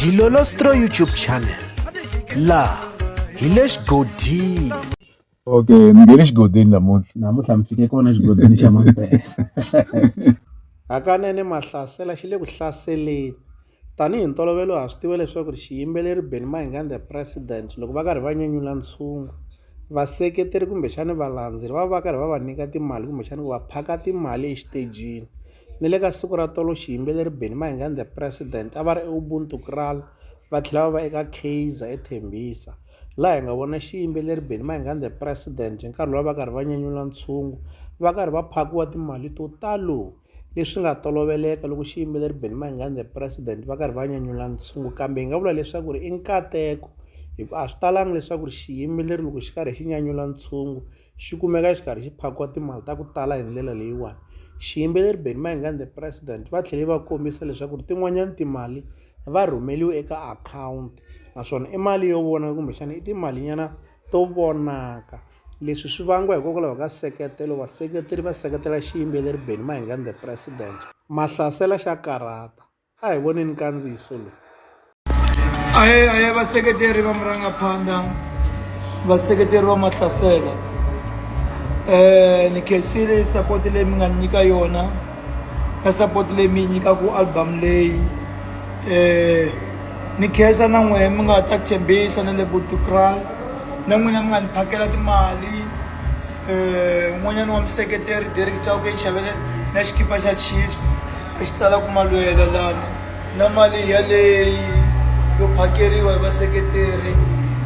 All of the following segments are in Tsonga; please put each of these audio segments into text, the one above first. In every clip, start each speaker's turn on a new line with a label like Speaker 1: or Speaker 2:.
Speaker 1: Dilolostro YouTube channel laha hi le xigodini okay
Speaker 2: mi nge le xigodini namuntlha namuntlha mi fike kona xigodini xa mampela hakanene
Speaker 3: mahlasela xi le ku hlaseleni tanihi ntolovelo ha swi tiva leswaku ri xiyimbeleri benny mahingan the president loko va karhi va nyanyula ntshungu vaseketeri kumbexani valandzeri va va va karhi va va nyika timali kumbexani ku va phaka timali exitejini Ni le ka siku ra tolo xiyimbeleri Benny Mayengani the President a va ri eUbuntu Kraal va tlhela va va eka Kaizer eThembisa laha hi nga vona xiyimbeleri Benny Mayengani the President hi nkarhi lowu va karhi va nyanyula ntshungu va karhi va phakiwa timali to talo leswi nga toloveleka loko xiyimbeleri Benny Mayengani the President va karhi va nyanyula ntshungu kambe hi nga vula leswaku ri i nkateko hikuva a swi talanga leswaku ri xiyimbeleri loko xi karhi xi nyanyula ntshungu Xi kumeka xi karhi xi phakiwa timali ta ku tala hi ndlela leyiwani. Xiyimbeleri Benny Mayengani The President va tlhele va kombisa leswaku tin'wanyana timali va rhumeliwe eka akhawunti naswona i mali yo vona kumbexana i timalinyana to vonaka. Leswi swi vangiwa hikokwalaho ka seketelo vaseketeri va seketela xiyimbeleri Benny Mayengani The President. Mahlasela xa karhata. a hi voneni nkandziyiso lowu
Speaker 4: aye aye vaseketeri va murangaphandha vaseketeri va mahlasela um ni khensile sapoti leyi mi nga ni nyika yona na sapoti leyi mi yi nyikaku album leyi um ni khensa na n'wehe mi nga ta tshembisa na le butukral na n'wina mi nga ni phakela timali um n'wanyana wa museketeri derek chauke yi xavele na xikipa xa chiefs I swi tsala ku malwela lana na mali yaleyi yo phakeriwa hi vaseketeri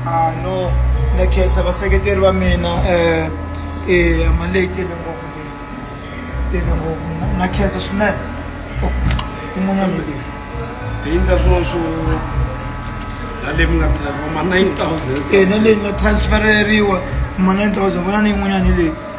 Speaker 4: a no na khensa vaseketeri va mina um eya mali leyi tele ngopfu leyi tele ngopfu na khensa swinene un'wana loyi bindza
Speaker 5: swin'wana swo naleyi mi nga tirhaka ma nine thousand e na leyi nga
Speaker 4: transfereriwa ma nine thousand ku na ni yin'wanyana leyi